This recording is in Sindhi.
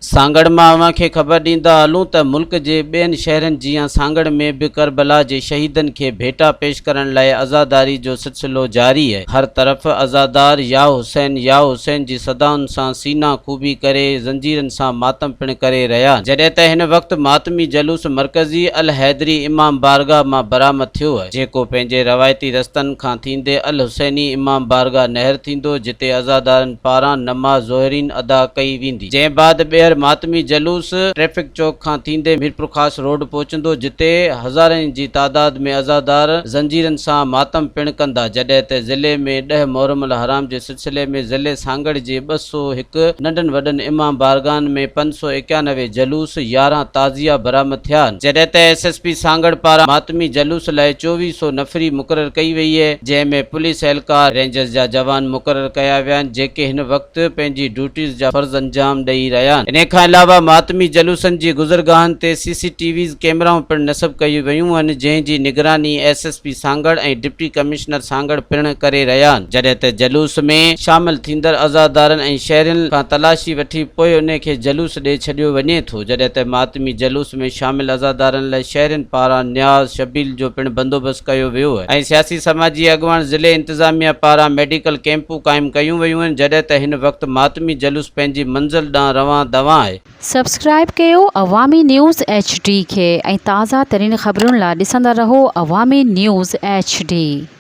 سانگهڙ مان اوهان کي خبر ڏيندا هلون ته ملڪ جي ٻين شهرن جيان سانگهڙ ۾ به ڪربلا جي شهيدن کي ڀيٽا پيش ڪرڻ لاء عزاداري جو سلسلو جاري هي هر طرف عزادار يا حسين يا حسين جي صدائن سان سينا ڪوبي ڪري زنجيرن سان ماتم پڻ ڪري رهيا آهن جڏهن ته هن وقت ماتمي جلوس مرڪزي الحيدري امام بارگاهه مان برآمد ٿيو هي جيڪو پنهنجي روايتي رستن کان ٿيندي الحسيني امام بارگاهه نهر ٿيندو جتي عزادارن پاران نماز ظهرين ادا ڪئي ويندي. جنهن بعد ٻيهر ماتمي جلوس ٽريفڪ چوڪ کان ٿيندي ميرپورخاص روڊ پهچندو جتي هزارين جي تعداد ۾ عزادار زنجيرن سان ماتم پڻ ڪندا جڏهن ته ضلعي ۾ ڏهه محرم الحرام جي سلسلي ۾ ضلعي سانگهڙ جي ٻه سؤ هڪ ننڍن وڏن امام بارگاهن ۾ پنج سؤ ايڪيانوي جلوس يارهن تعزيا برآمد ٿيا جڏهن ته ايس ايس پي سانگهڙ پاران ماتمي جلوس لاء چوويهه سؤ نفري مقرر ڪئي وئي جنهن ۾ پوليس اهلڪار رينجرز جا جوان مقرر ڪيا ويا آهن جيڪي هن وقت وقت پنهنجي ڊيوٽيز جا فرض انجام ڏئي رهيا آهن انهي کان علاوه ماتمي جلوسن جي گذرگاهن تي سي سي ٽي ويز ڪيمرائون پڻ نصب ڪيون ويون آهن جنهن جي نگراني S S P Sanghar ۽ deputy commissioner Sanghar پڻ ڪري رهيا آهن جڏهن ته جلوس ۾ شامل ٿيندڙ عزادارن ۽ شهرين کان تلاشي وٺي پوء انهي کي جلوس ڏي ڇڏيو وڃي ٿو جڏهن ته ماتمي جلوس ۾ شامل عزادارن لاء شهرين پاران نياز شبيل جو پڻ بندوبست ڪيو ويو ۽ سياسي سماجي اڳواڻ ضلعي انتظاميه پاران ميڊيڪل ڪيمپون قائم ڪيون ويون آهن جڏهن ته هن وقت ماتمي جلوس پنهنجي منزل ڏانهن روان دوان آهي. سبسڪرائيب ڪيو عوامي نيوز ايڇ ڊي کي ۽ تازه ترين خبرن لا ڏسندا رهو عوامي نيوز ايڇ ڊي.